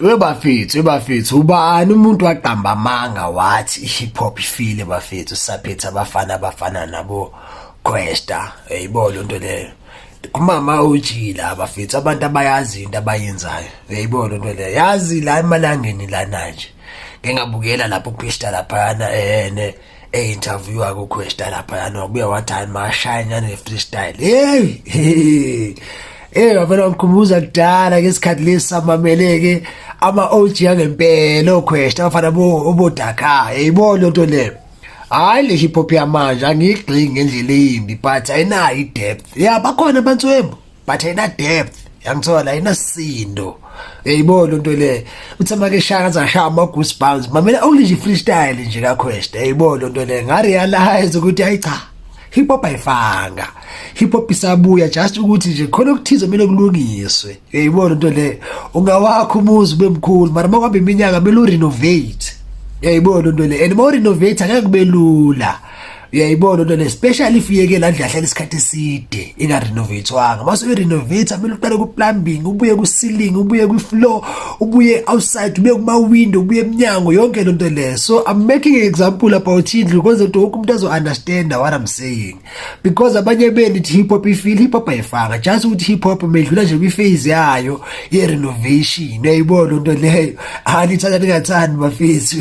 We bafethu, we bafethu, ubani umuntu waqamba amanga wathi i-hip hop ifile bafethu, saphethe abafana abafana nabo Questa, eyibo lo nto leyo. Kumama ujila abafethu, abantu abayazi into abayenzayo, eyibo lo nto leyo. Yazi la emalangeni lana nje. ngengabukela lapho uPista laphana ene eh interview akho Questa laphana wabuya wathi hayi mashine ne freestyle hey Eh wabona umkhumbuza kudala ngesikhathi lesamameleke ama OG angempela oQuesta afana bo obodaka yibona into le hayi le hip hop yamanje angigxingi ngendlela eyimbi but ayinayo i depth yeah bakhona abantu wembo but ayina depth yangithola ayina sindo yayibona lento le uthe make shaya azashaya ama goose bounds mamela only nje freestyle nje ka quest yayibona lento le nga realize ukuthi ayi cha hip hop ayifanga hip hop isabuya just ukuthi nje khona okuthize kumele kulungiswe yayibona lento le ungawakho umuzi bemkhulu mara makwambe iminyaka mele urenovate yayibona lento le and more renovate angeke kube lula uyayibona into le special if uyeke la ndlu ahlala isikhathi eside ingarenovatewanga mase uyirenovate kumele uqale ku-plumbing ubuye ku-ceiling ubuye kwi-floor ubuye outside ubuye kuma-window ubuye emnyango yonke le nto leyo so i'm making an example about indlu kwenze nto wonke umuntu azo-understanda what i'm saying because abanye beni ithi hip hop ifile hip hop ayifanga just ukuthi hip hop medlula nje kwi-phase yayo ye-renovation uyayibona into leyo anithanda ningathandi bafethu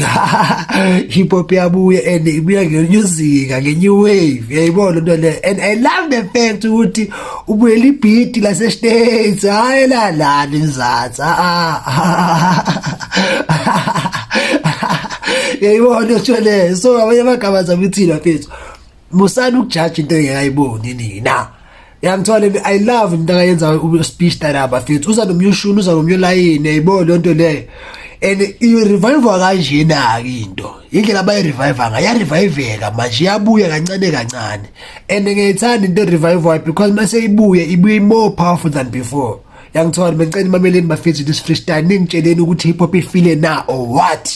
hip hop yabuya and ibuya ngenyuzinga ngenye wave yayibona into le and i love the fact ukuthi ubuyela ibhidi lasestates hhayi lalani mzansi yayibona into leyo so abanye amagama zabo ithina fethu musani ukujaja into engekayiboni nina yangithola i love into akayenza speech tala bafethu uza nomyushuni uza nomyolayini yayibona leyo nto leyo and i-revive-wa kanjena-ke into indlela abayi-revive-a ngayo yareviveka manje iyabuya kancane kancane and ngiyayithanda into e-revive-wayo because uma seyibuye ibuye more powerful than before yangithola bencela imameleni bafethu this freestyle ningitsheleni ukuthi hip hop ifile na or what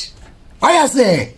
ayase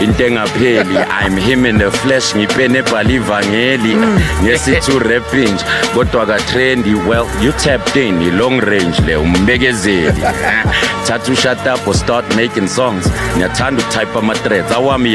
into engapheli i'm him in the flesh ngipene ebhala ivangeli mm. ngesithi urepinj kodwa katrendi well you tapped in i-long range le umbekezeli thatha ushatapo start making songs ngiyathanda ukutype ama-threads awami